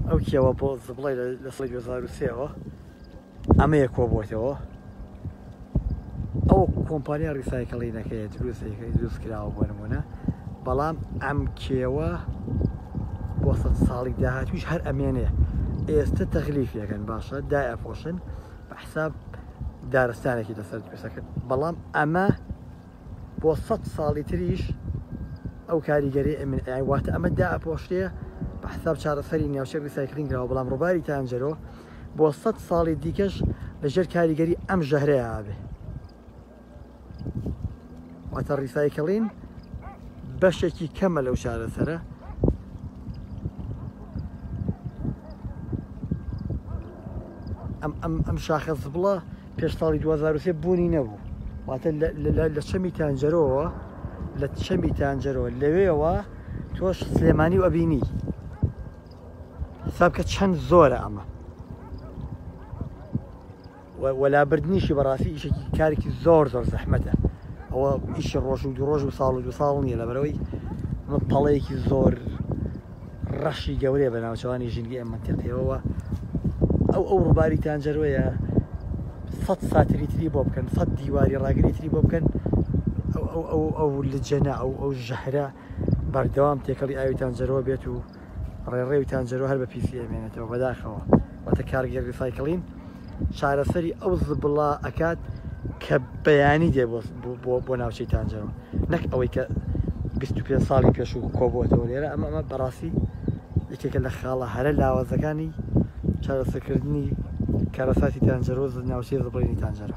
ئەو کێوە بۆ زبڵی لە سڵی 2023ەوە ئەمەیە کۆبووەتەوە ئەو کۆمپانیا ڕیسایکڵینەکەی دروستەکەی دروست کراوە بۆ نمونە بەڵام ئەم کێوە بۆ سە ساڵی داهاتویش هەر ئەمێنێ ئێستا تەغلیفیەکەن باشە دای ئەپۆشن بە حساب دارستانێکی لەسەر دروستەکەن بەڵام ئەمە بۆ سەد ساڵی تریش ئەو کاریگەری ئەمن ئەیای واتە ئەمە دا ئەپۆشرێ بە حساب چارەسەری ناوچەک ریسایکلین کراوە بەڵام ڕووباری تانجەرۆ بۆ سەد ساڵی دیکەش لەژێر کاریگەری ئەم ژەهرەیە ئابێ واتە ڕیسایکلین بەشێکی کەمە لەو چارەسەرە ئەم ئەم ئەم شاخە زبڵە پێش ساڵی دوو هەزار و سێ بوونی نەبوو واتە لە چەمی تانجەرۆوە لە چەمی تانجەرەوە لەوێەوە تۆش سلێمانی و ئەبینی حساب کە چەند زۆرە ئەمە وەلابردنیشی بەڕاستی ئیشێکی کارێکی زۆر زۆر زەحمەتە ئەوە ئیشی ڕۆژ و دو ڕۆژ و ساڵ و دو ساڵ نییە لە بەرەوەی ئەمە پەڵەیەکی زۆر ڕەشی گەورەیە بە ناوچەوانی ژینگە ئەم منتیقیەوەوە ئەو ئەو ڕووباری تانجەرۆیە سەد ساتری تری بۆ بکەن سەد دیواری ڕاگری تری بۆ بکەن ئەو لە جەنا ئەو ئەو ژەهرە بەردەوام تێکەڵی ئاوی تانجەرۆ بێت و ڕێڕێوی تانجەرۆ هەر بە پیسی ئەمێنێتەوە بەداخەوە واتە کارگەر ریسایکلین چارەسەری ئەو زبڵە ئەکات کە بەیانی دێ بۆ ناوچەی تانجەرۆ نەک ئەوەی کە 25 ساڵی پێشوو کۆبووەتەوە لێرە ئەمە ئەمە بەڕاستی یەکێکە لە خاڵە هەرە لاوازەکانی چارەسەکردنی کارەساتی تانجەرۆ ناوچەی زبڵینی تانجەرە